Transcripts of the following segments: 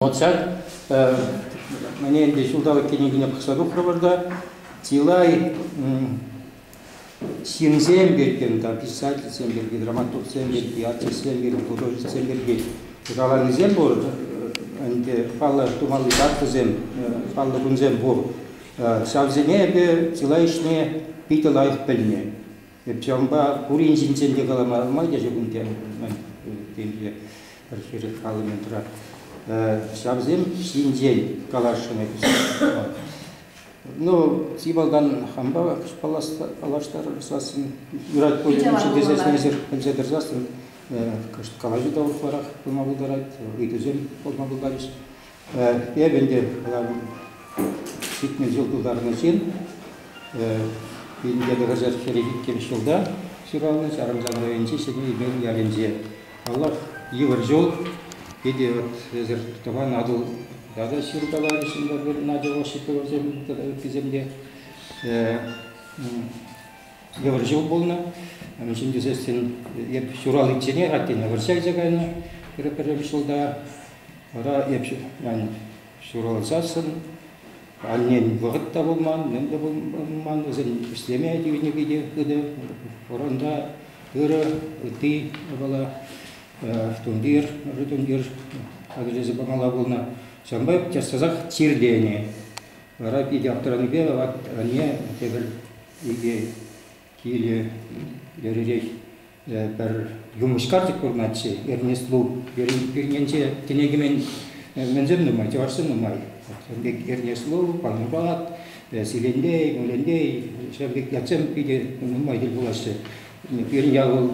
Вот ҫак мне ӗнтӗ ҫулталӑк кӗнекине пӑхса тухрӑмӑр та чылай ҫынсем пирки, там писательсем пирки, драматургсем пирки, артистсем пирки, художниксем пирки каланисем пур. Ӗнтӗ паллӑ тумалли датӑсем, паллӑ кунсем пур. Ҫавсене эпӗ чылай ӗҫне питӗ лайӑх пӗлнӗ. Эп ҫавӑнпа пурин ҫинчен те калама ӗлкӗрмеҫҫӗ кунта пӗр хӗрӗх халӑментра. Ҫавсем ҫинчен каласшӑн эп. Ну, чи малтан хампа паллаштарсассӑн, юрать пуль тесе сенсер пӗлсе тӑрсассӑн, кӑшт калаҫу та ытларах пулма пултарать, ыйтусем пулма пултарӗҫ. Эпӗ ӗнтӗ ҫитмӗл ҫул тултарнӑ ҫын, Пинте тӑрӑшас хӗрӗ иккӗмӗш ҫулта ҫуралнӑ, Ҫарӑмсан районӗнчи Ҫӗнӗ Имен ялӗнче. Паллах, йывӑр ҫул. Питӗ вот эсир Тӑван Атӑл тата ҫыркаларӗҫ пӗр-пӗр Надя Осиповасем тата ыттисем те. Йывӑр ҫул пулнӑ. Ҫын тӳсессӗн эп ҫураличченех аттене вӑрҫа кайса кайнӑ пӗр-пӗр ҫулта. Вара эп ҫуралсассӑн аннен вӑхӑт та пулман, мӗн те пулман, вӗсен ӗҫлеме тивнӗ те хытӑ. Фронта ырӑ, ытти япала, тумтир, ырӑ тумтир хатӗрлесе памалла пулнӑ. Ҫавӑнпа час-часах чирленӗ. Вара питӗ аптӑранипе анне тепӗр икӗ Киле iriрех пӗр юмӑҫкар тӗк курнӑччӗ. Эрнест Лу пӳрнинче кӗнекемен мӗнсем нумай, чӑвашсем нумай. Ҫавӑн пек Эрнест Лу, Панурбат, Силендей, Мулендей, ҫавӑн пек ятсем питӗ нумай тӗл пулаҫҫӗ. Пирӗн ял вӑл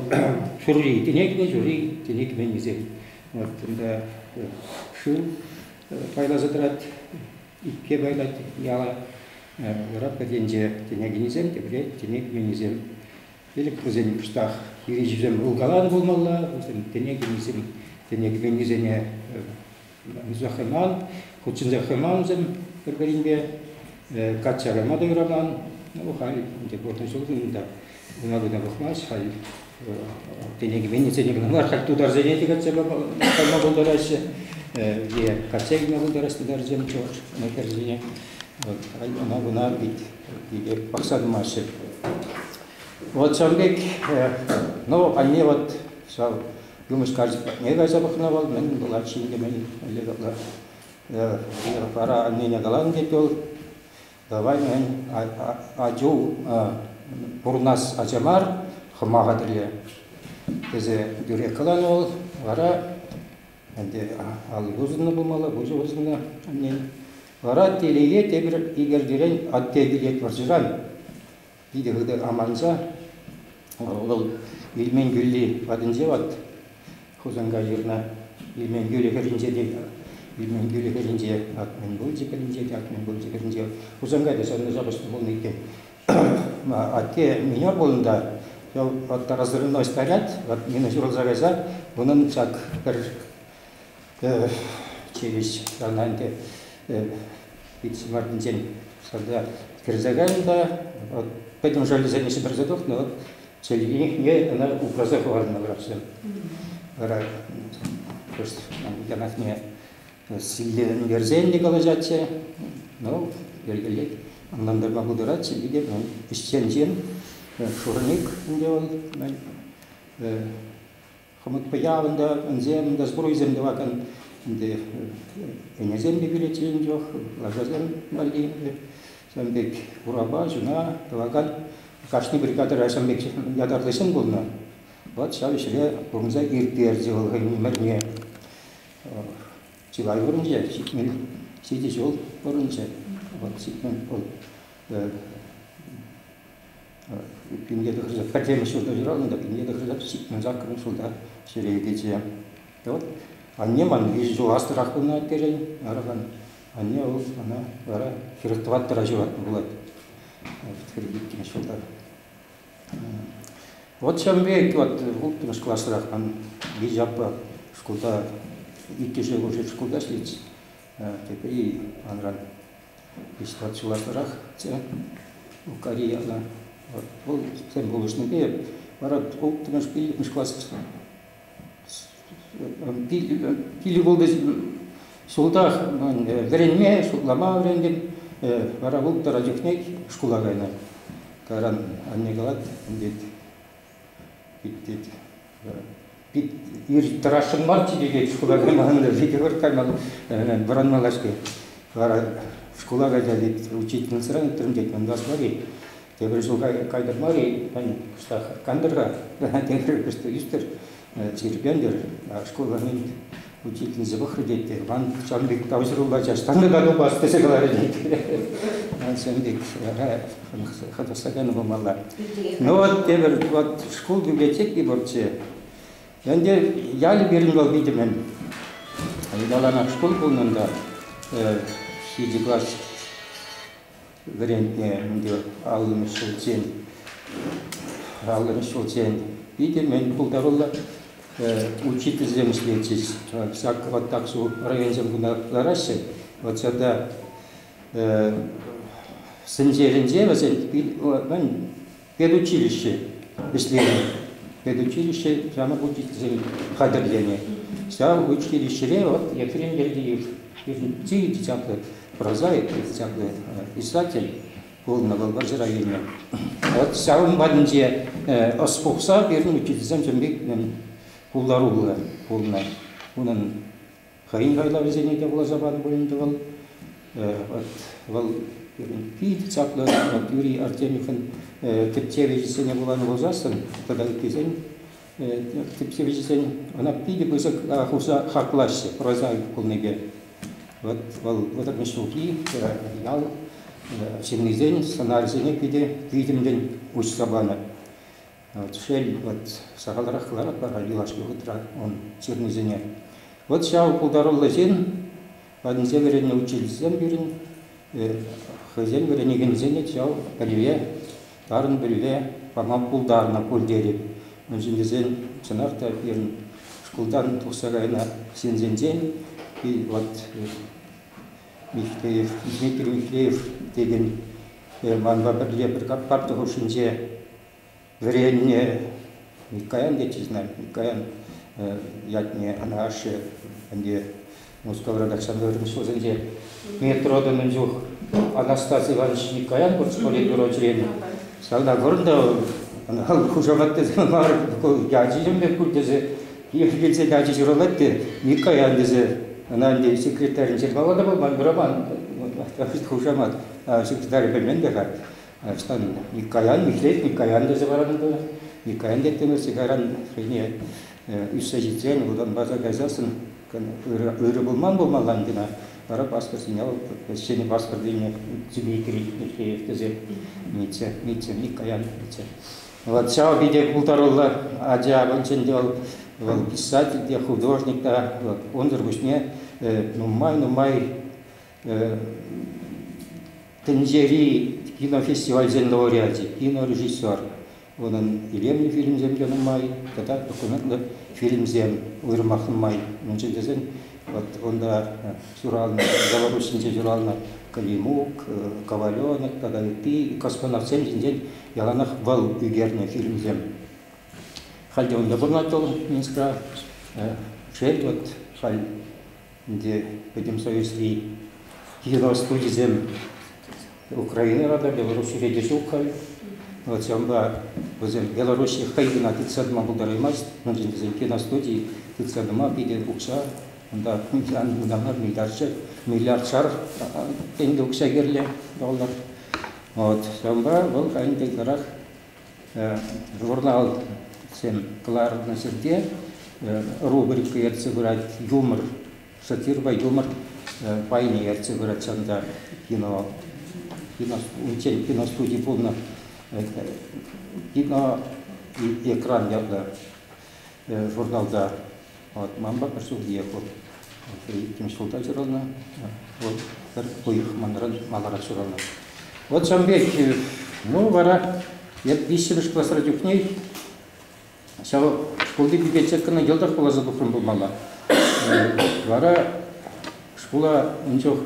ҫурри, кӗнекемен ҫурри, кӗнекеменнисем. Вот ӗнтӗ шыв пайласа тӑрать, Икке пайлать яла Раппатенче тенекенӗсем, тепре тӗне кӳменӗсем. Пилӗк вӗсен кӑштах хирӗҫӳсем вулкаланӑ пулмалла, вӗсем тенекенӗсем тенекеменнисене ӑнса хӑйман, хутшӑнса хӑймансем пӗр-пӗринпе качча кайма та юраман. Ну, халь ӗнтӗ пурнӑҫ улми унта. Хула кӑна пӑхмасть халь тенӗ кӗменнисене кӑна мар, халь тутарсене те кӗтсе кайма пултараҫҫӗ е касса илме пултараҫҫӗ тутарсем хӗрсене. Ӑна-куна питӗ пӑхса тӑмаҫҫӗ. Вот ҫавӑн пек, ну, анне вот ҫав юмӑҫ карчӑк патне кайса пӑхнӑ вӑл, мӗн пулать ҫын темен, вара аннене каланӑ тет вӑл, Давай, атю, пурӑнас ача мар, хӑма хатӗрле, тесе тӳрех каланӑ вӑл. Вара ӗнтӗ алли вырсӑннӑ пулмалла, пуҫӗ вырсӑннӑ аннен. Вара телее тепӗр икӗртирен атте килет вӑрҫӑран. Питӗ хытӑ аманса вӑл Ильмен кӳлли патӗнче ват Хусанкай ҫырнӑ Ильмен кӳлӗ хӗрринче те Ильмен кӳлӗ хӗрринче ак мӗн пулчӗ пӗринче те ак мӗн пулчӗ хӗрринче Хусанкайта ҫавна ҫапӑҫнӑ пулнӑ иккен. Атте минер пулнӑ та ял ваттарасӑрӑн ӑстарять, вот мина ҫурӑлса кайса унӑн ҫак пӗр Эх, тивӗҫ сана ӗнтӗ. Ит ҫӑмартинчен шарта кӗрсе кайнӑ та вот пӗтӗм жалюзине ҫӗмӗрсе тухнӑ, вот чӗлхине ӑна упраса хӑварнӑ врачсем. Вара кӑшт янахне силлентерсен те калаҫатчӗ, ну, йӗркелет, ӑнлантарма пултаратчӗ, питӗ ӗҫчен ҫын, шурник ӗнтӗ вӑл, Хӑмӑтпа ялӑн та, ӗнсем те, сбруйсем тӑвакан ӗнтӗ ӗнесем те переткен чух, лашасем валли ҫавӑн пек урапа, ҫуна тӑвакан кашни бригадӑра ҫавӑн пек ятарлӑҫем пулнӑ. Вӑт ҫав ӗҫре пурӑнса ирттерчӗ вӑл хӑйӗн ӗмӗрне. Чылай пурӑнчӗ, ҫитмен ҫичӗ ҫул пурӑнчӗ. Вӑт ҫитмен вӑл Пинке тӑхӑрса, пӗрремӗш ҫурта ҫуралнӑ та пинке тӑхӑрса сикмен саккӑрмӗш ҫулта ҫӗре кӗчӗ. Вот анне ман виҫӗ ҫул аслӑрах пулнӑ аттерен, арӑмӑн. Анне вӑл мана вара хӗрӗх тӑваттӑра ҫуратнӑ пулать. Хӗрӗх иккӗмӗш ҫулта. Вот ҫавӑн пек вот улттӑмӗш класрах ман виҫӗ аппа шкулта иккӗшӗ улшӑн шкулта ӗҫлет. тепӗр-и манран виҫ-тӑват ҫула пӑрахчӗ Укари яла. Вӑл тем пулӑшнипе вара улттӑмӗш, пиллӗкмӗш класс пилӳ пулнӑ ҫултах вӗренме, шутлама вӗрентӗм. Вара улттӑра чухне шкула кайнӑ. Кайран анне калать, Тӑрасшӑн мар типекет шкула каймалла, лидер каймалла, вӑранма каҫпе. Вара шкула кайса учительницӑран ыйтрӑм, тет, ман класс мар-и? Тепӗр ҫул кайтӑр мар-и? Кӑштах кантӑр-ха, тепӗр ӳстер. Тирпейлӗр, шкулӑн учительница пӑхрӗ те, тет, ман ҫавӑн пек тавҫӑрулла час Тантӑка тупас тесе каларӗ, тет. Ҫавӑн пек хӑнӑхтарканӑ пулмалла. Ну вот тепӗр, вот шкул библиотеки пурччӗ. Ӗнтӗ ялӗ пирӗн вӑл питӗмӗн. Ыталанах шкул пулнӑ та, ҫичӗ класс вӗрентнӗ ӗнтӗ. Аллӑмӗш ҫулччен аллӑмӗш ҫулччен питӗ мӗн пултаруллӑ учительсем ӗҫлетчӗҫ. Ҫак вӑт Аксу районсем куна лараҫҫӗ. Вот ҫарта Сӗнчелӗнче вӗсен мӗн Педучилище вӗҫленӗ. Педучилище янӑ учительсем хатӗрленӗ. Ҫав училищӗре вот Ефрем Гергиев, Иртий десятый, прозаик десятый писатель пулнӑ вӑл вӑрҫӑ районӗ. Вот ҫавӑн патӗнче ӑс пухса пирӗн учительсем чӑн пек пултаруллӑ пулнӑ. Унӑн хӑйӗн хайлавӗсене те вуласа панӑ пуль ӗнтӗ вӑл. Вот вӑл питӗ чаплӑ вот Юрий Артемьевӑн тӗпчевҫӗсене вуланӑ пулсассӑн тата ыттисен тӗпчевҫӗсен ӑна питӗ пысӑк хушса хаклаҫҫӗ прозаик пулнипе. Вот вӑл вӑтӑрмӗш ҫулхи ял ҫыннисен сӑнарӗсене питӗ витӗмлӗн уҫса панӑ. Шел, вӑт, сахалрах кӑларать вара юлашки хутра ун ҫырнисене. Вӑт ҫав пултаруллӑ ҫын патӗнче вӗреннӗ учительсем пирӗн, хӑйсен вӗренекенӗсене ҫав пӗлӗве, тарӑн пӗлӗве пама пултарнӑ пуль тетӗп. Мӗншӗн тесен, чӑнах та, пирӗн шкултан тухса кайнӑ ҫынсенчен вот Михеев, Дмитрий Михеев текен манпа пӗрле пӗр парта хушшинче Вӗреннӗ Миккаян тетчӗҫ ӑна, Миккаян ятне, ӑна ашшӗ ӗнтӗ Мускавра каҫса вӗреннӗ ҫулсенче метрода мӗн чух Анастасий Иванович Миккаян политбюро членӗ. Ҫавна курӑн та ӑна хушамат тесе мар, ячӗҫӗм пек пуль тесе пире килсен ачи ҫуралать те Миккаян тесе ӑна ӗнтӗ секретарӗн ҫырмалла та пулман, пыраман хушамат. Секретарь пӗлмен те-ха. Ӑҫтан Миккаян, Михрет Миккаян тесе паранӑ Миккаян теттӗмӗрччӗ кайран хӑйне ӳссе ҫитсен Вӑтанбаса кайсассӑн ырӑ пулман пулмалла кӑна, вара паспорт ҫине ҫӗнӗ паспорт илме тӳме кӗрет тесе митсӗ, митсӗ, Миккаян митсӗ. Вот ҫав питӗ пултаруллӑ ача пулчӗ те вӑл, вӑл писатель те, художник та, вот унсӑр пуҫне нумай-нумай Тӗнчери кинофестивальсен лауреачӗ, кинорежиссер, унӑн илемлӗ фильмсемпе нумай тата документлӑ фильмсем уйрӑмах нумай. Мӗншӗн тесен вот унта ҫуралнӑ, Белоруссинче ҫуралнӑ Климук, Коваленок тата ытти космонавтсем ҫинчен яланах вӑл ӳкернӗ фильмсем. Халь те унта пурӑнать вӑл Минскра. Шел, вот халь Ӗнтӗ Пӗтӗм Союзри ядро студисем Украинӑра та, Белоруссире те ҫук халь. Вот ҫавӑнпа вӗсем Белоруссие хӑй кӑна тытса тӑма пултараймасть. Мӗншӗн тесен киностуди тытса тӑма питӗ укҫа унта унтан миллиардшар, миллиардшар тенкӗ укҫа кирлӗ доллар. Вот ҫавӑнпа вӑл ӗнтӗ ытларах журналтсем кӑларнӑ ҫӗрте рубрика ертсе пырать юмор, сатирпа юмор пайне ертсе пырать ҫакӑнта кино кино унччен киностуди пулнӑ кино экран ятлӑ журналта Манпа пӗр ҫулхиех вӑл хӑй иккӗмӗш ҫулта ҫуралнӑ. Вӑл пӗр уйӑх манран маларах ҫуралнӑ. Вӑт ҫавӑн пек, ну вара эп виҫҫӗмӗш класра чухне ҫав шкулти библиотекӑна йӑлтах вуласа тухрӑм пулмалла. Вара шкула ун чух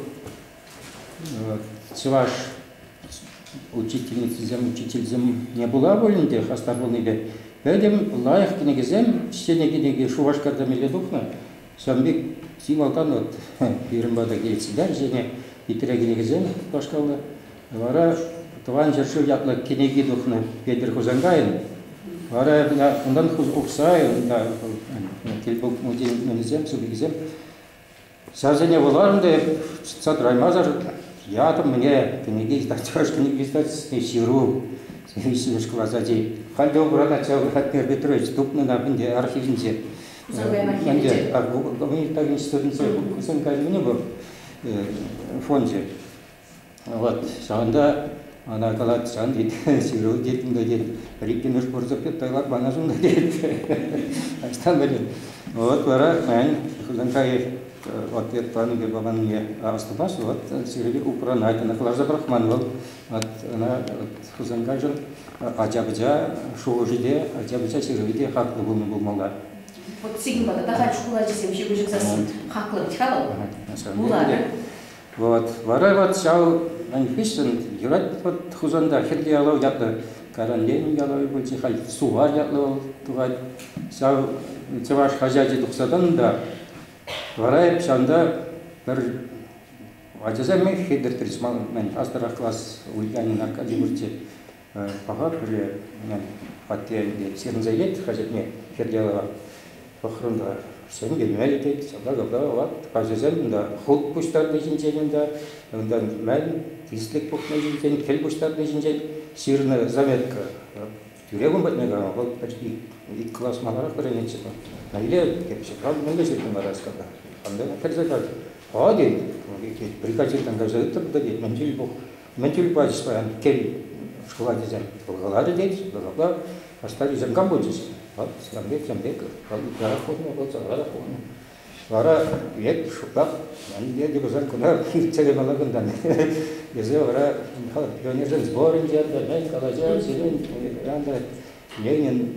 чӑваш учительницисем, учительсемне пула пулин те хастар пулнипе пӗтӗм лайӑх кӗнекесем, ҫӗнӗ кӗнеке Шупашкарта меле тухнӑ. Ҫавӑн пек чи малтан вот пирӗн пата килет сюда ҫӗнӗ Питре кӗнекесем пашкалнӑ. Вара Тӑван ҫӗршыв ятлӑ кӗнеки тухнӑ Петӗр Хусанкайӑн. Вара унтан Ухсай, унта тӗлпулу музейӗсем, супикисем Ҫавсене вуларӑм та эп чӑтса тӑраймасӑр ятӑм мӗне кӗнеке чӑваш кӗнеке издательстви ҫыру ҫивӗч класс ачи. Халь те убран ача Владимир Петрович тупнӑ на ӗнтӗ архивӗнче. Ӗнтӗ гуманитар институтӗнче Хусанкай мӗн вӑл фончӗ. Вот ҫавӑнта ӑна калать, сан тет, ҫыру килтӗм те тет, иккӗмӗш пурсӑпет тайлак манашӑн та тет. Ӑҫтан пӗлет? Вот вара, мен, Хусанкаев ответ панипе паманне аступас, вот сире упранать, ӑна кӑларса пӑрахман вӑл. Вот ӑна Хусанкайшӑн ача-пӑча шухӑшӗ те, ача-пӑча ҫырӑвӗ те хаклӑ пулнӑ пулмалла. Вот сирӗн пата та халь шкул ачисем ҫыпӑҫӑп сассӑн хаклӑ вӗт-ха вӑл. Вуларӗ. Вот. Вара вот ҫав ун хыҫҫӑн юрать вот Хусанта Хирти Ялав ятлӑ Каран Ленин ялавӗ пулчӗ, халь Сувар ятлӑ вӑл тухать. Ҫав чӑваш хаҫачӗ тухсадан та вара ҫавӑнта пӗр ачасем хедертрич ман хастара класс Ульянин Аркадий пурччӗ. Паха пӳле хваттер ӗнтӗ сирӗнсе илет хаҫатне Хирделова. Пӑхрӑм та, сӗм килме итет. Ҫапла капла ват каҫӑсем унта хут пуҫтарни ҫинчен унта, унтан мӗн тислӗк пухни ҫинчен, кӗл пуҫтарни ҫинчен ҫырнӑ заметка. Тӳрех ун патне кайма вӑл почти ик класс маларах вӗренетчӗ вӑл. Мӗнле кепҫука, мӗнле ҫыртнӑ Мараскапа? Кам та кӗрсе качӗ. Ха тен, бригадиртан кайса ыттӑр та тет, мӗн ҫил пух. Мӗн тӳр пачӗс паян кӗл шкула тесе каларӗ те апла стариксем кам пулчӗҫ? Вӑл сам пек, сам пек, вӑл ытларах хурнӑ, вӑл сарарах хурнӑ. Вара век шӑпах мӗнле те пулсан куна ирттере мала кунтан тесе вара Михаил пионерсен сборӗнче мӗн калаҫа сирӗн Ленин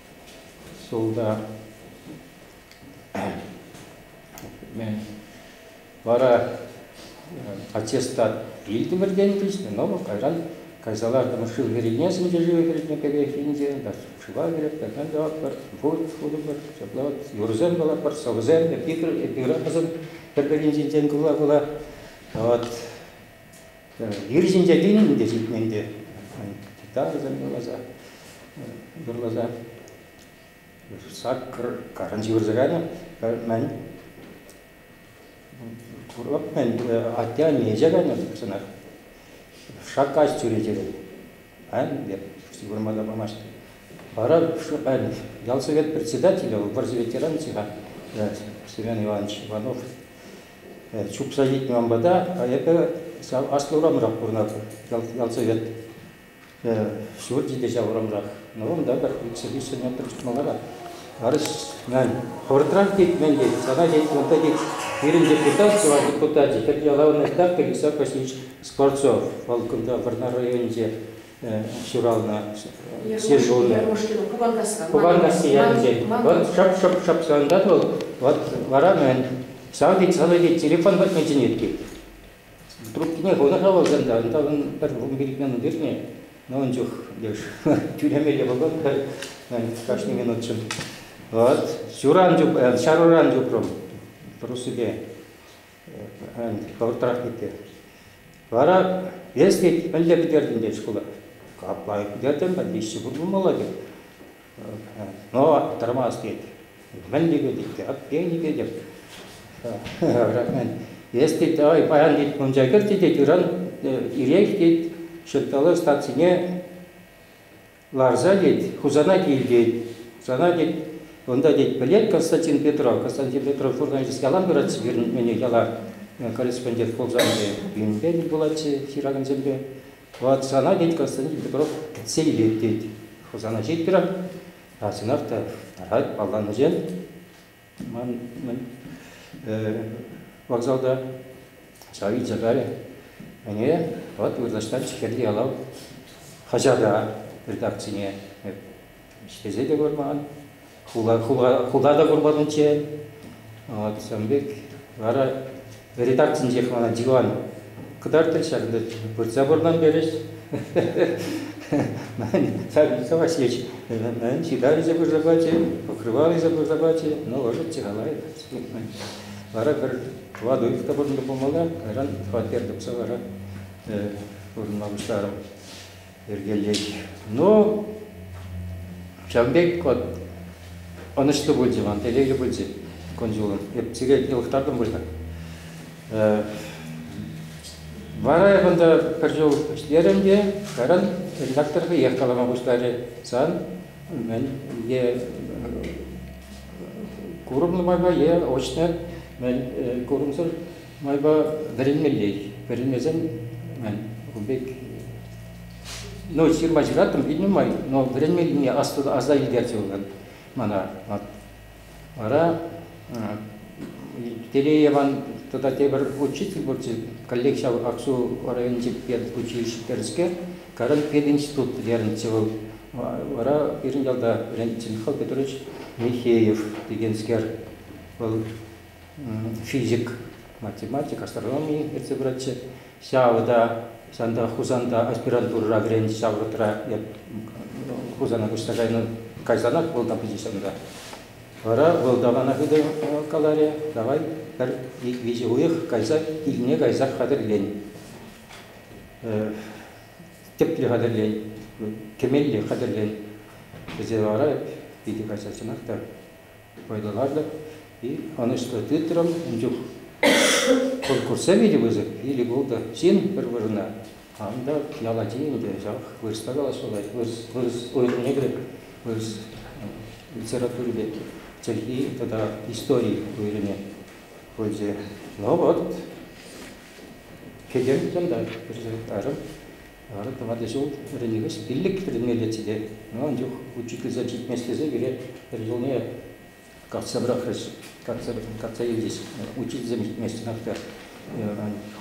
Султа вара аттестат илтӗмӗр тенӗ но кайран кайса лартӑмӑр шыв кӗреймен сӗнче шыв кӗртнӗ кӗрех ӗнтӗ шыва кӗрет тӑрсан тӑватпӑр пур шутӑпӑр ҫапла вот юрӑсем калатпӑр сӑвӑсем эпир эпир пӗр-пӗринчен кула-кула вот Ир ҫинче килнӗ те ҫитнӗ ӗнтӗ. Тытатӑн юрласа, юрласа. Саккӑр карӑн ҫывӑрса кайнӑ. Мӗн? Курӑп мӗн, атте-анне ӗҫе кайнӑ пурсӑнах. Шаккаҫ чӳречерен. Эп ҫывӑрма та памасть. Вара ял совет председателӗ, вӑрҫӑ ветеранӗ-ха, Семен Иванович Иванов, чупса ҫитнӗ ман пата, а эпӗ ҫав аслӑ урамрах пурӑнатӑп, ял, ял Совет ҫурчӗ ҫав урамрах. Ну, унта пӗр икҫӗ-виҫҫӗ метр малара. Арӑҫ, мен, хӑвӑртрах тет, мен тет, сана тет, унта тет, пирӗн депутат, чӑваш депутачӗ, хӗр яла вырнаҫтартӑр, Високосич Скворцов, вӑл кунта Вӑрнар районӗнче ҫуралнӑ селолӗ. Куванкасси ялӗнчен. Вӑл шӑп-шӑп-шӑп савӑнтать вӑл. Вот вара мӗн? Савӑн тет, савӑн тет, телефон патне чӗнет тет. Трубкине хунӑ-ха вӑл сӑнта, унта ун пӗр вунпилӗк тирне. Ну ун чух леш тӳлемелле пулӑм кашни минутшӑн. Вот ҫуран чуп, ҫаруран чупрӑм, по-русски. Хӑвӑртрах кӗтте. Вара эс тет, пӗлте пӗтертӗн тет шкула. Капла пӗтертӗм, пӗр виҫҫӗ пур пулмалла тет. Но тӑрмас тет. Мӗн типетӗп те, аппен типетӗп. Бірақ мен эс тет, ай, паян тет, мунча кӗртӗ тет, ыран ирех тет, ҫырталӑ стацине Ларса тет, Хусана кил тет, сана тет, унта тет, пӗлет Константин Петров. Константин Петров вырнаҫас ялан пыратчӗ пирӗн ӗне яла корреспондент пулсан те, пирӗнпе тӗл пулатчӗ ҫыракансемпе. Вот сана тет Константин Петров силлет тет. Хусана ҫит пирах, а сӑнах та парать палланӑҫен. Ман вокзалта ҫав илсе кайрӗ. Ӗне вӑт вырнаҫтарчӗ Хирти Ялав хаҫата, редакцине. Эп ӗҫлесе те курман, хула, хула, хула та курманччӗ. От ҫавӑн пек вара Редакцинчех мана диван кӑтартрӗҫ, ҫак ӗнтӗ выртса пӑртан перӗҫ. Вячеслав Васильевич мӗн ҫытавӗсе пырса пачӗ, покрывалӗсе пырса пачӗ, ну, ӑшӑччӗ халай. Вара пӗр кладовик та пурӑннӑ пулмалла, кайран хваттер тупса вара пурӑнма пуҫларӑм. йӗркелет. Ну, ҫавӑн пек вот ӑнӑҫлӑ пулчӗ ман, телейлӗ пулчӗ кун-ҫулӑм. Эп сире йӑлӑхтартӑм пырса. Вара эп ӑнта пӗр ҫул ӗҫлерӗм те, кайран редактор хӑех калама пуҫларӗ. Сан мӗн е курӑмлӑ майпа, е очно мӗн курӑмсӑр майпа вӗренмеллех. Вӗренмесен, ун пек, ну, ҫырма ҫыраттӑм пит нумай, но вӗренмеллине аса илтерчӗ вӑл мана. Вара Телееван тата тепӗр учитель пулчӗ, коллег ҫав Аксу районӗнчи педучилищӗ Каран пединститут вӗренчӗ вӑл. Вара пирӗн ялта вӗрентчен Хал Петрович Михеев текенскер. Вӑл физик, математик, астрономи ертсе пыратчӗ. Ҫавӑ та ҫанта Хусанта аспирантурӑра вӗреннӗ ҫав вӑхӑтра Хусана куҫса кайнӑ кайсанах вӑл та пычӗ ҫанта. Вара вӑл далана хытӑ каларӗ, давай пӗр виҫӗ уйӑх кайса килне кайса хатӗрлен. Тӗплӗ хатӗрлен, кӗмелле хатӗрлен. Вӗсем вара питӗ качачӑнах та вӑйлӑлатӑп и ӑнӑҫлӑ тытрӑм. Ун чух конкурса вилӗ пысӑк, вилӗ-култӑ ҫын пӗр вырӑна. Тан та ял ачи ӗнтӗ ҫав, вырӑсла калаҫма пулать, вырӑс, вырӑс уйрӑмне кӗрек, вырӑс литератури пек чӗлхи тата истори уйрӑмне пулчӗ. Ну вот, кӗтӗм чунта, пӗрчӗ арӑм. Ара, тӑватӑ ҫул вӗренекенс пиллӗк вӗренме илетчӗ те, ӑна ун чух учительсем ҫитместлесе пире пӗр ҫулне картса пӑрахрӗҫ, картса илчӗҫ. Учительсем ҫитместенех те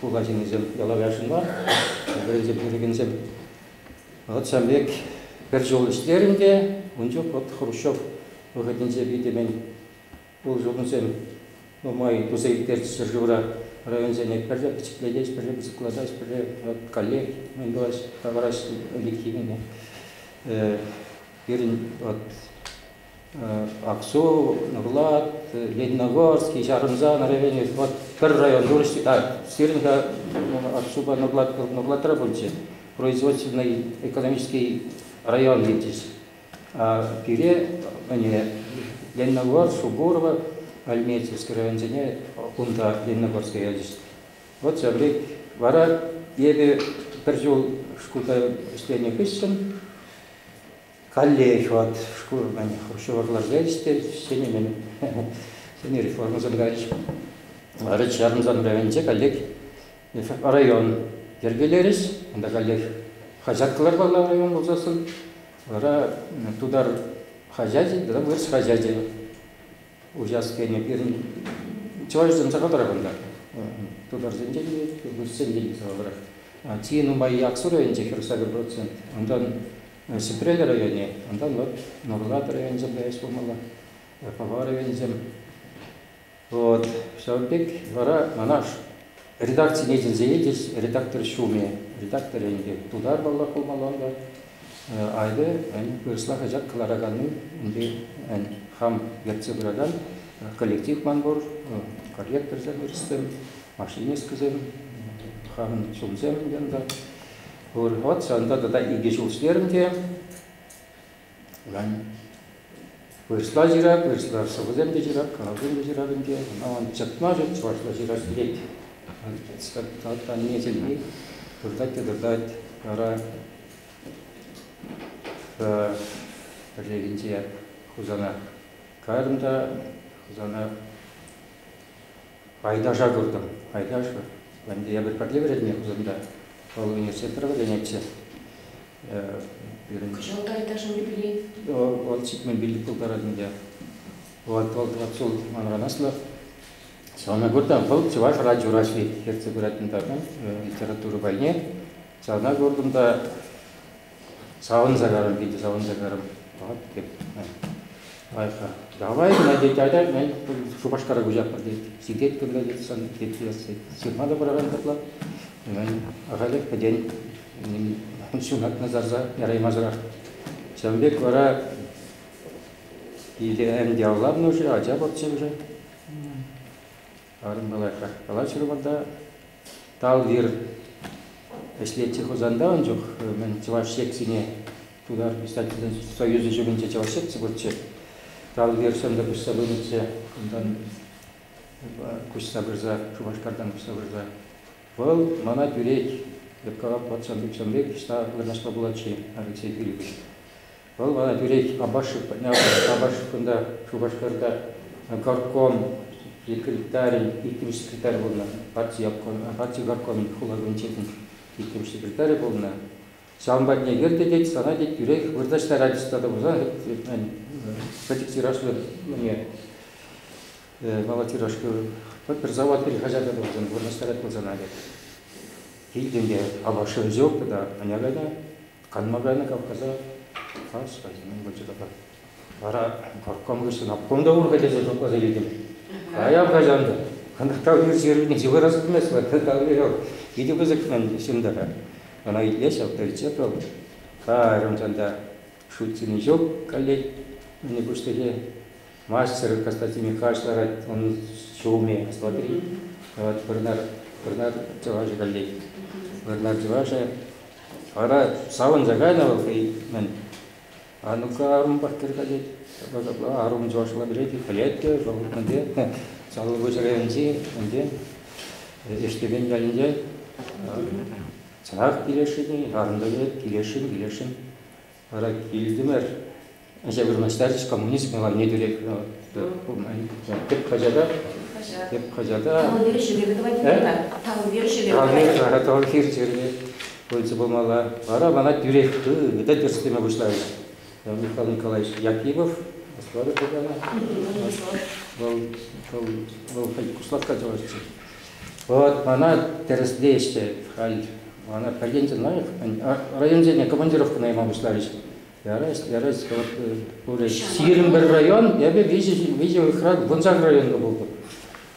хула ҫыннисем ялав яшӑнма, вӗренсе пӗтерекенсем вӑхӑт ҫав пек пӗр ҫул ӗҫлерӗм те ун чух вот Хрущев вӑхӑтӗнче питӗ мӗн Пулӑшукансем нумай туса ирттерчӗҫ ҫӗршывра. Районсене пӗрре пӗчӗклетӗҫ, пӗрре пысӑклатаҫ, пӗрре каллех мӗн тӑваҫ, тавӑраҫ ӗлӗкхи кунне. Пирӗн Аксу, Нурлат, Лениногорский, Ҫарӑмсан районӗ вот пӗр район пулӑшчӗ. А, сирӗн та Аксупа Нурлатра пулчӗ. Производственный экономический район иртӗҫ. пире Лениногорск, Субурово, Альметьевск районсене унта Лениногорска ячӗҫ. Вот ҫаври. Вара эпӗ пӗр ҫул шкулта ӗҫленӗ хыҫҫӑн калле хӑват шкул хурҫӑварларса ӗҫте ҫӗнӗ ҫӗнӗ реформӑсем кайрӗҫ. Варич Ярмсан районӗнче каллех район йӗркелерӗҫ. Унта каллех хаҫат кӑлармалла район пулсассӑн Вара тутар хаҫачӗ тата вырӑс хаҫачӗ уҫас тенӗ пирӗн чӑвашсем сахалрах унта. Тутарсенчен те, вырӑссенчен те сахалрах. Чи нумай Яксу районӗнче хӗр сакӑр процент, унтан Сӗпрел районӗ, унтан вот Нурлат районӗсем каяс пулмалла, Пӑва районӗсем. Вот ҫавӑн пек вара манаш редакцине чӗнсе илчӗҫ редактор ҫумӗ. Редактор ӗнтӗ тутар паллах пулмалла ӑнта. Айде вырӑсла хаҫат кӑлараканни унти хам ертсе пыракан коллектив ман пур, корректорсем вырӑссем, машинисткӑсем, хамӑн ҫумсем ӗнтӗ ӑнта. Пур. Вот ҫавӑнта тата икӗ ҫул ӗҫлерӗм те Вырӑсла ҫырать, вырӑсла шӑпӑсем те ҫырать, карапсем те ҫырать ӗнтӗ. Аван чӑтма ҫук чӑвашла ҫырать пек. Аннесемпе выртать те тӑртать. Вара пӗррехинче Хусана кайрӑм та Хусана Пайташа куртӑм. Пайташ-ши? Ӗнтӗ эпир пӗрле вӗреннӗ Хусанта. Вӑл университетра вӗренетчӗ. Пирӗн... Кӑҫалта этажӑн юбилей. Вӑл ҫитмен пилӗк пултарать ӗнтӗ. Вӑл, вӑл капсул манран аслӑ. Ҫавна курта вӑл чӑваш радио Раҫҫей ертсе пырать унта литература пайне. Ҫавна куртӑм та Савӑнса карӑм, питӗ савӑнса карӑм. Тӑваттӑп, лайӑха. Давай, тет, айдай, Шупашкара куҫатпӑр, тет. Ситет кунта, тет, сан, тет, тет. Ҫырма та пыракан тапла. Ахалех пӗтен ҫунатна сарса яраймасӑрах. Ҫавӑн пек вара Илем Яллавнуши, Ача пахчи уже. Арӑмпа калаҫрӑм та Талвир ӗҫлетчӗ Хусанта ун чух мӗн чӑваш секцине Тутар писательсен союзӗ ҫумӗнче чӑваш секци пурччӗ. Талвир сӑнтӑр куҫса пынӑччӗ, унтан куҫса пырса Шупашкартан куҫса пырса вӑл мана тӳрех Леккава патшан укҫан пек ӑҫта вырнаҫма пулать-ши, Алексей Юрьевич? Вӑл мана тӳрех Абашевкӑн та, Шупашкарта горком секретарӗн иккӗмӗш секретарӗ пулнӑ, парти горкомӗн хула комитетӗн иккӗмӗш секретарӗ пулнӑ. Ҫавӑн патне кӗр те тет, сана тет тӳрех вырнаҫтарать стата пулсан пӗчӗк тиражлӑ мала тиражка пӗр завод пӗр хаҫат тупсан вырнаҫтарать пулсан тет. Килтен те Абашев ҫук тата, аня кайта. Канма кайнӑ капкӑса калаҫрӗ, мӗн пулчӗ тата. Вара горком хыҫҫӑн обком та ур кӗтесе шутласа илтӗм. Кая каҫан та. Кӑнтӑрталли сирпӗнчи вырас пымасть кӑнтӑрталли ҫок. Питӗ пысӑк ман ҫумтара. Ӑна итле ҫав, пӗлчӗ паллӑ. Карӑм чанта шутсине ҫук каллех мӗн пуҫлӑхе. Мастер Константин каҫ ларать ун ҫумӗ, смотри. Вӑт Вӑрнар, Вӑрнар чӑвашӗ каллех. Вӑрнар чӑвашӗ Вара савӑнса кайнӑ вӑл хӑй мӗн Анука арӑм паттӑр катет, ҫапла арӑм чӑвашла пӗлет, пӗлет те, вӑл ӗнтӗ Салавӑш районӗнчи ӗнтӗ Эштепен ялӗнче чӑнах килесшӗн-и, арӑм та килесшӗн, килесшӗн. Вара килтӗмӗр. Ача вырнаҫтарчӗҫ коммунизм лагерьне тӳрех. Тӗп хаҫата. Тӗп хаҫата. Тавлӑ ҫӗреве тӑвать кунта. Тавлӑ ҫӗреве. Тавлӑ ҫӗреве пулчӗ пулмалла. Вара мана тӳрех хытӑ тӗрӗслеме пуҫларӗҫ. Михаил Николаевич Якимов, Москвара пулнӑ. Вӑл куслатка чӑвашчӗ. Вот мана тӗрӗслеҫҫӗ халь. Мана пӗртен лайӑх районсене командировка найман пуҫларӗҫ. Ярать, ярать. Вот пурӗ сирӗн пӗр район, эпӗ виҫӗ, виҫӗ храк вуншар районка пултӑм.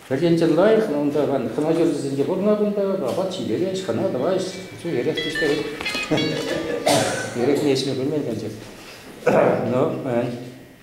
Пӗртен лайӑх, но унта ман командирсенче пурӑна кунта, апат ҫитерет, хӑна тӑвать, все эрех пуҫтарет. Эрех не ӗҫме пӗлмен, конечно. Но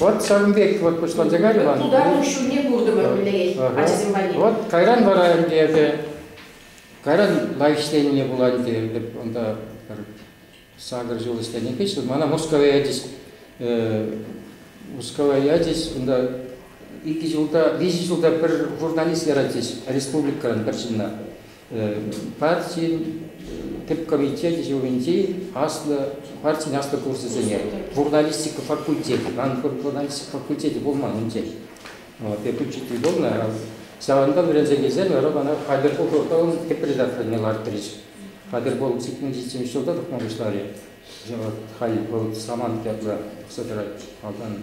Вот ҫавӑн пек вот пуҫланчӗ кайрӗ Иван. Тутаров ҫумне куртӑмӑр мӗнле ачасем валли. Вот кайран вара ӗнтӗ эпӗ кайран лайӑх ӗҫленине пулать ӗнтӗ эпӗ унта пӗр сакӑр ҫул ӗҫленӗ хыҫҫӑн мана Мускава ячӗҫ Мускава ячӗҫ унта икӗ ҫулта виҫӗ ҫулта пӗр журналист яратчӗҫ республикӑран пӗр ҫынна партин тӗп комитечӗ ҫумӗнчи аслӑ партин аслӑ курсӗсене журналистика факультечӗ, ан журналистика факультечӗ пулман унччен факультетри пулнӑ, ҫавӑнпа вӗренсе килсен вара мана Хатӗрпул тӑван тӗп редакторне лартрӗҫ. Хатӗрпул 87 ҫулта тухма пуҫларӗ. Халь вӑл Самант ятлӑ пӑхса тӑрать. Малтан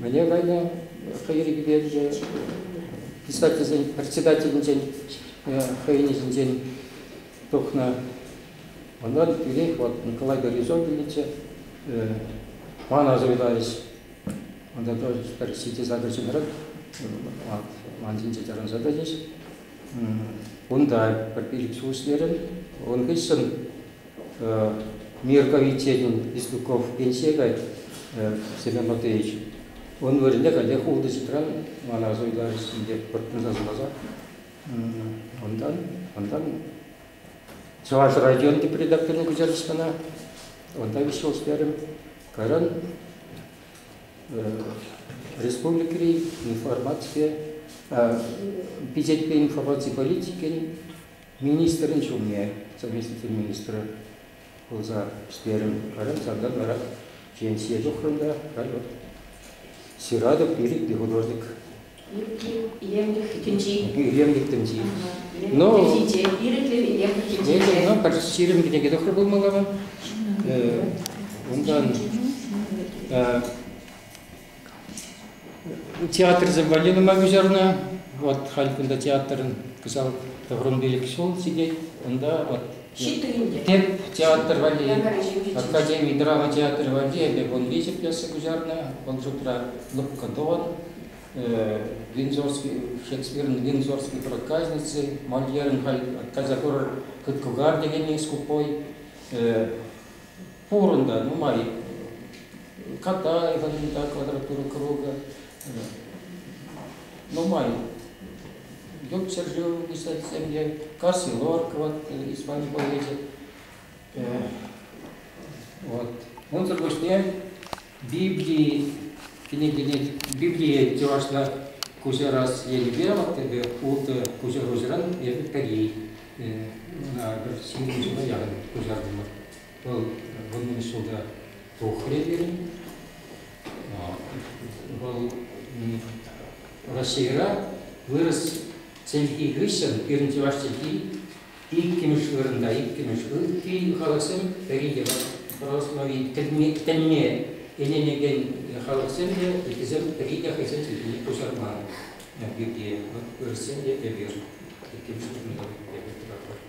Мӗне кайнӑ хӑйри кӳперчӗ писательсен председателӗнчен хӑйне ҫинчен тухнӑ. Унтан тӳрех вот Николай Березовича мана суйларӗҫ. Унта тоже пӗр сити задачӑнран ман ҫинче таран задачӗҫ. Унта пӗр пилӗк суснерӗн, ун хыҫҫӑн Мир комитетӗн Еслюков пенсие кать Семен Матвеевич. Ун вырӑнне каллех ултӑситран мана суйлаҫҫӗ деп пӑртнаса суласа. Унтан, унтан Чӑваш район тепри докторин куҫарӑшкана унта виҫ ҫул ӗҫлерӗм. Кайран республикӑри информацие пичетпе информаци политикин Министрӗн ҫумне совместитель министр пулса ӗҫлерӗм. Халӗ салтак вара пенсие тухрӑм та халь вот ҫыратӑп ирӗклӗ художник. Илемлӗх тӗнчи. Илемлӗх тӗнчи. Но ирӗклӗ илемлӗх тӗнчинче. Но пӗр ҫирӗм кӗнеке тухрӗ пулмалла. Унтан Театрсем валли нумай куҫарнӑ. Вот халь кунта театрӑн кӑҫал Тӑхрӑмпилӗк ҫул ҫитет. Унта вот Ҫиттӳринте. Теп театр валли, Академи драма театрӗ валли эпӗ вун виҫӗ пьеса куҫарнӑ. Вӑл шутра Лӑпкӑ Дон, Линзорский, Шекспирӑн Линзорский проказницы, Мольерӑн халь кайса курӑр Кыткугар текенни скупой, пур унта нумай Катаеван та квадратура круга нумай Йоб ҫӗршыв писать семье Карсилоркова Исман поэчӗ вот унсӑр пуҫне Библи кӗнекене Библие чӑвашла куҫа раз енӗпе вот эпӗ ултӑ куҫа хушӑран эпӗ пӗри ҫемье ҫула яхӑн куҫартӑмӑр Вӑл вуннӑмӗш ҫулта тухрӗ пирӗн. Вӑл Раҫҫейра вырӑс чӗлхи хыҫҫӑн пирӗн чӑваш чӗлхи иккӗмӗш вырӑнта, иккӗмӗш ытти халӑхсем пӗри те православи тӗнне, тӗнне ӗненекен халӑхсем те, ыттисем пӗри те хӑйсен чӗлхине куҫарман пирки. Вырӑссем те эпир иккӗмӗш вырӑнта эпир тӑратпӑр.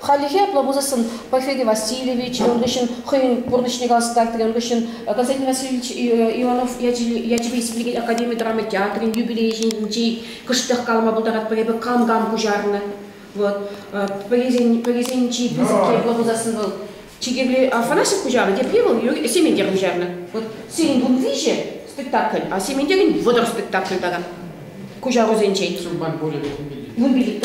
Хальлӗхе апла пулсассӑн Порфирий Васильевич ун хыҫҫӑн хӑйӗн пурнӑҫне каласа ун хыҫҫӑн Константин Васильевич Иванов ячӗпе республикин академи драма театрӗн юбилейӗ ҫинчен кӑштах калама пултаратпӑр эпӗ кам-кам куҫарнӑ вот пӗрисен пӗрисен чи пысӑкки апла пулсассӑн вӑл чикепле Афанасьев куҫарнӑ тепле вӑл Сементер куҫарнӑ вот сирӗн кун виҫӗ спектакль а Сементерӗн вӑтӑр спектакль тата куҫарусенчен. Сумман пулӗ вун пилӗк.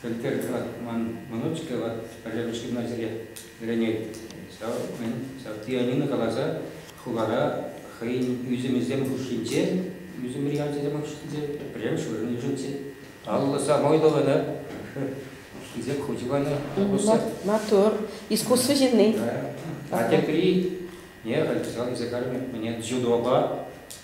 пӗлтерт вӑл ман мӑнучкӗ, вӑт пӗрремӗш ҫынна сире вӗренет. Ҫав, мӗн, ҫав Тианина каласа хулара хӑйӗн ӳсӗмӗсем хушшинче, ӳсӗмри ачасем хушшинче пӗрремӗш вырӑн йышӑнчӗ. Алла самой тӑвӑнӑ, хисеп хучӗ мана пулӑшса. Матур, искусство ҫынни. А тепри, не, халь писал илсе кармӗ, мне дзюдопа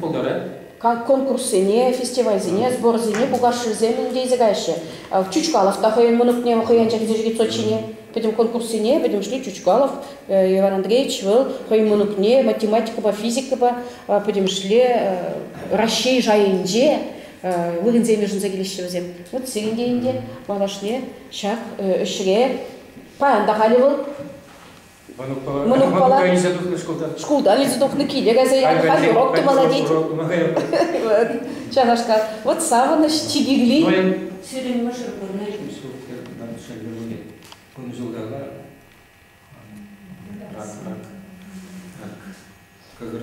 пултарать? конкурссене, фестивальсене, сборсене пулкашшӗсем ӗнтӗ илсе каҫҫӗ. Чучкалов та хӑйӗн мӑнукне хӑйӗн чӗнчӗ китсот ҫине. Пӗтӗм конкурссене пӗтӗмӗшле Чучкалов, Иван Андреевич вӑл хӑйӗн мӑнукне математикӑпа, физикӑпа пӗтӗмӗшле Раҫҫей шайӗнче вырӑнсем йышӑнса килеҫҫӗ вӗсем. Вот сирӗн те ӗнтӗ малашне ҫак ӗҫре. Паян та халӗ вӑл Монопола илсе тухнӑ шкулта. Шкулта илсе тухнӑ киле кайса янӑ хозёрок тупала тет. Вот ҫавнашкал. Вот савӑнӑҫ чи кирли. Сирӗн мӑшӑр пурне те кунҫултала рак рак рак кӑкӑр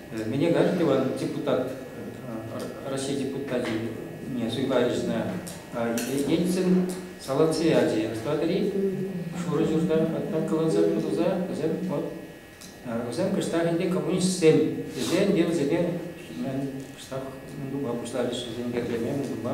Меня Гадлева, депутат, России депутатине суйпа ӗҫнӗ Ельцин Салациади ӑстатӑри шурӑ ҫурта атакаланса пӑсӑлса вӗсем вот вӗсем кӑштах ӗнтӗ коммунистсем тесе ӗнтӗ вӗсене кӑштах тупа пуҫларӗҫ вӗсем кӗрлеме тупа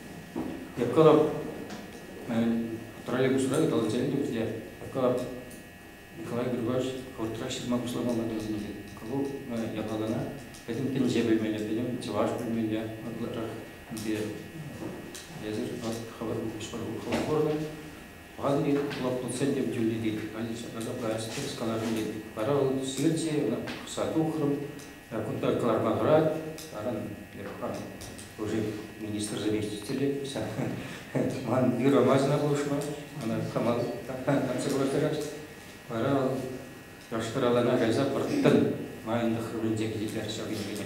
Эпкалап троллейбусра ыталатса илнӗ те Эпкалап Николай Григорьевич хӑвӑртрах ҫырма пуҫламалла тетӗм те вӑл япалана пӗтӗм тӗнче пӗлмелле, пӗтӗм чӑваш пӗлмелле ытларах ӗнтӗ эсир хӑвӑр хӑвӑр хӑвӑр Вазбик лоткутсем тем тӳлнӗ тет, больница безопасности сказани тет. Вара вӑл студентсене ӑна пӑхса тухрӑм, кунта кӑларма тӑрать, аран япӑхан уже министр заместителӗ ман юрамасӑна пулӑшма, ана кама консерватора. Вара вӑл яштыралана кайса пӑрттӑн майӑн тӑхрӑмӗнче килтерчӗ ҫав кӗнекене.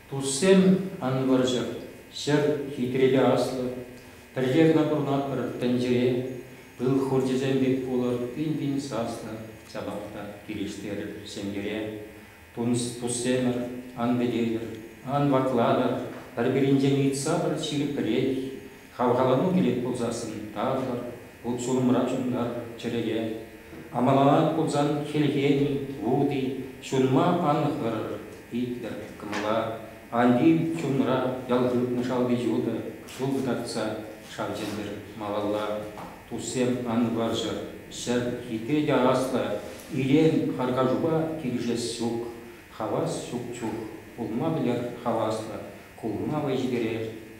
Туссем, ан вӑрҫӑр, ҫӗр хитрелле аслӑ. Пӗрре кӑна пурӑнатпӑр тӗнчере, пыл хурчӗсем пек пулӑр, пин-пин саслӑ ҫапах та килӗштерӗр ҫемьере. Туссемӗр, ан пӗлетӗр, ан ваклатӑр, пӗр-пӗринчен ыйтса пӗр ҫирӗп пӗлет, Хавхалану килет пулсассӑн тасӑр, вут-ҫулӑмра чунтар, чӗрӗе. Амаланать пулсан хӗлхеми, вути, ҫунма ан хӑрӑр, итлӗр кӑмӑла. Ан тив чунра ял хыпнӑ шалти-ҫутӑ ҫул кӑтартса, шав чӗнтӗр малалла. Туссем, ан вӑрҫӑр, ҫӗр хитре те аслӑ, илем, харкашупа килӗшес ҫук, хавас ҫук чух. Пулма пӗлер хаваслӑ, кулма вӑй ҫитерер.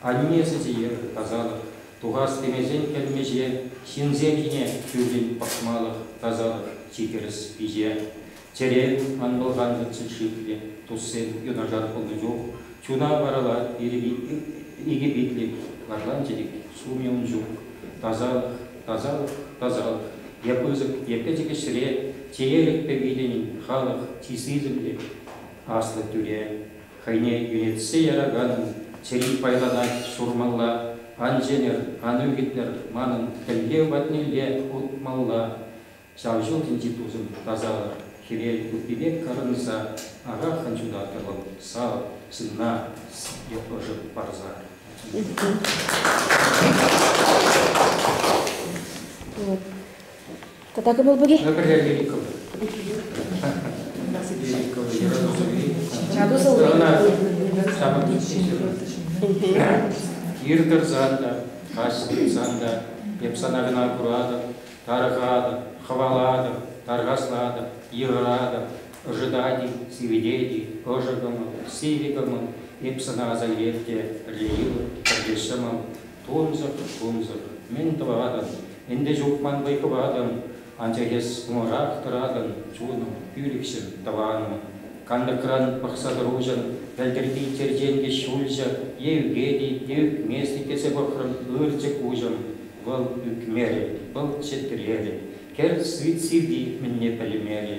Анне сӗтиех тасалӑх, тухас темесен кӗлмӗҫе, ҫынсем ҫине чуншӗн пӑхмалӑх тасалӑх чи тӗрӗс пиҫе. Чӗрем, ан пӑлхантӑрччӑр шиклӗ туссем, юнашар пулнӑ чух чуна варалать икӗ питлӗ лашланчӑк, сумӗ ун ҫук. Тасалӑх, тасалӑх, тасалӑх, е пысӑк, е пӗчӗк ӗҫре чеерӗкпе виленӗн халӑх чи сисӗмлӗ, аслӑ тӳре. Хӑйне ӳретсе яраканӑн чӗри пайланать, Сурмалла ан чӗнӗр, ан ӳкӗтӗр, манӑн тӗлке патнелле утмалла. Ҫав ҫул тӗнчи тусӑм, тасалӑр, хӗвел туппи пек кӑрӑнса, араххӑн ҫутаттӑр вӑл сав ҫынна, сире ӑшӑ парса. Тата кӑмӑл пур-и? Кир тӑрсан та, каҫ тытсан та эп сана кӑна куратӑп, тарӑхатӑп, хӑвалатӑп, тархаслатӑп, йыхӑратӑп, ӑшӑтать-и, сивӗтет-и, ӑшӑ кӑмӑл, сивӗ кӑмӑл, эп сана аса илеп те пӗрле йӑлӑп, пӗрле ҫӑмӑл, Тунсӑх-тунсӑх, мӗн тӑватӑн? Ӗнтӗ ҫук ман вӑй хыватӑн, анчах эс кӑмӑлрах тӑратӑн, чунӑм, пӳлӗхҫӗм, тӑванӑм. Канлӗхран пӑхса тӑруҫӑн пӗлтӗрхи черченкӗ ҫулҫӑ е ӳкет-и, е ӳкмест-и тесе пӑхрӑм, ырчӑк куҫӑм вӑл ӳкмерӗ, вӑл чӗтрерӗ. Кӗр сӳт сивви мӗнне пӗлмерӗ,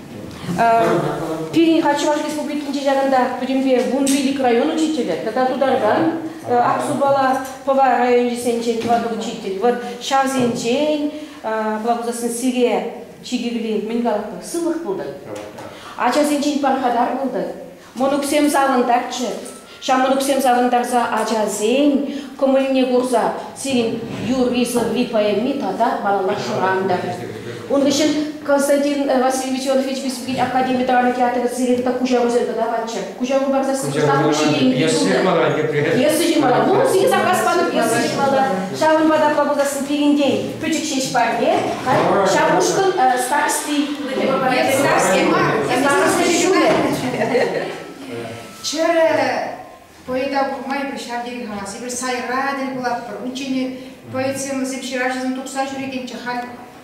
Пирӗн хать Чӑваш Республикинче ҫакӑнта пӗтӗмпе вун пилӗк район учителӗ тата Тутарстан, Аксубала, Пӑва районӗсенчен тӑватӑ учитель. Вот ҫавсенчен, план пулсассӑн, сире чи кирли мӗн калатпӑр, сывлӑх пултӑр. Ачасенчен пархатар пултӑр. Мӑнуксем савӑнтарччӑр. Ҫамрӑксем савӑнтарса ачасен кӑмӑлне курса сирӗн юрри-сӑври поэми тата балалах шӑрантӑр. Ун хыҫҫӑн Константин э, Васильевич Иванович Республикин академи драма театрӗ сирӗн тата куҫарусем тӑкаканччӗ. Куҫару парсассӑн выртатӑп ҫитейми ҫунтӑр. Пьеса ҫырмалла. Вун сикӗ заказ панӑ пьеса ҫырмалла. Ҫавӑнпа та пулсассӑн пирӗнтен пӗчӗк ҫеҫ парне. Ҫав ушкӑн э, старости Эс сарсем мар, сарсем ҫулӗ. Чӗрӗ поэта курмайӑп ҫав тери-ха. Сипӗр сайра тӗл пулатпӑр. Унччен поэтсемӑсем ҫыравҫӑсем тухса ҫӳрекенччӗ, халь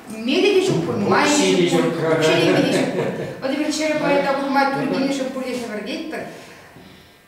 мелӗ те ҫук пуль, майӗ те ҫук пуль, укҫа-тенкӗ те ҫук пуль. Эпир чӗрӗ поэта курма тӳр килнӗшӗн пурте хӗпӗртетпӗр.